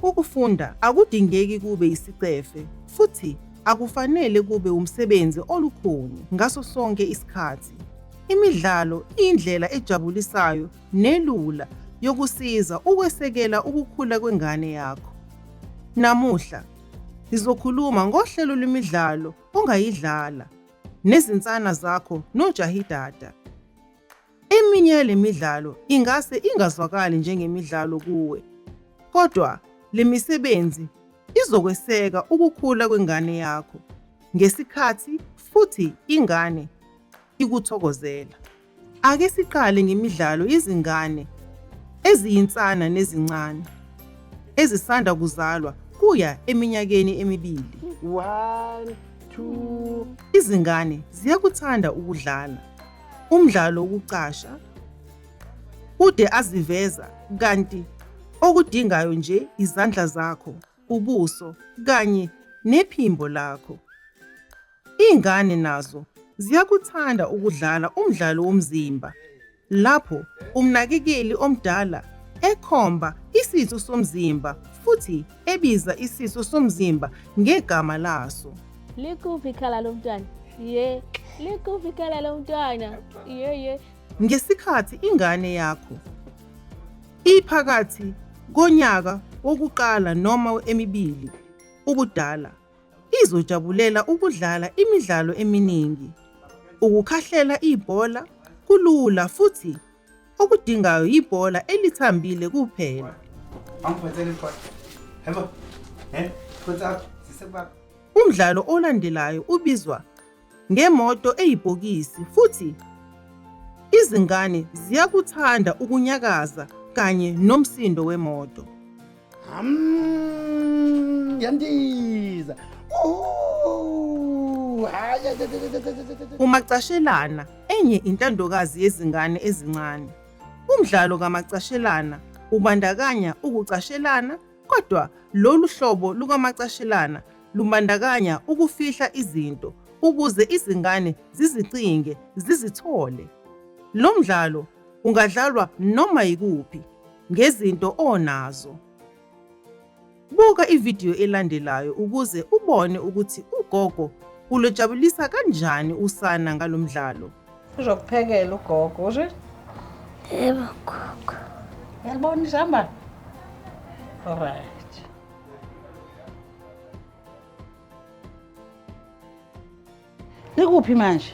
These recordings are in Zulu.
Ukufunda akudingeki kube isicefe futhi akufanele kube umsebenzi olukhuni ngaso sonke isikhathi. Imidlalo iyindlela ejabulisayo nelula yokusiza ukwesekela ukukhula kwengane yakho. Namuhla sizokhuluma ngohlelo lwemidlalo ongayidlala nezinsana zakho nojahidada. Eminye yale midlalo ingase ingazwakali njengemidlalo kuwe, kodwa le misebenzi izokweseka ukukhula kwengane yakho ngesikhathi futhi ingane ikuthokozela. Ake siqale ngemidlalo yezingane eziyinsana nezincane ezisanda kuzalwa kuya eminyakeni emibili. One, two. Izingane ziyakuthanda ukudlala. umdlalo wokucasha ude aziveza kanti okudingayo nje izandla zakho, ubuso kanye nephimbo lakho. Iy'ngane nazo ziyakuthanda ukudlala umdlalo womzimba lapho umnakekeli omdala ekhomba isitho somzimba futhi ebiza isisu somzimba ngegama laso. Likuphi ikhala lomntwana? Ye, likuphi ikhala lomntwana? Ye, ye. Ngesikhathi ingane yakho iphakathi konyaka wokuqala noma emibili ubudala, izojabulela ukudlala imidlalo eminingi. Ukukhahlela ibhola kulula futhi Okudingayo yibhola elithambile kuphela. Umdlalo olandelayo ubizwa ngemoto eyibhokisi futhi izingane ziyakuthanda ukunyakaza kanye nomsindo wemoto. Mm, yandiza umacashelana enye intandokazi yezingane ezincane umdlalo kamacashelana ubandakanya ukucashelana kodwa lolu hlobo lukamacashelana lumbandakanya ukufihla izinto ukuze izingane zizicinge zizithole lo mdlalo ungadlalwa noma yikuphi ngezinto onazo. Buka ividiyo elandelayo ukuze ubone ukuthi ugogo ulojabulisa kanjani usana ngalo mdlalo. Uzokuphekela ugogo, usho? Yebo gogo. Yalibona izambane? Alright. Likuphi manje?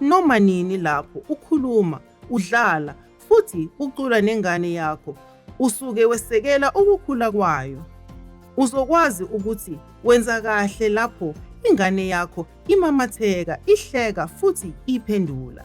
Noma nini lapho ukhuluma, udlala futhi ucula nengane yakho, usuke wesekela ukukhula kwayo. Uzokwazi ukuthi wenza kahle lapho ingane yakho imamatheka, ihleka futhi iphendula.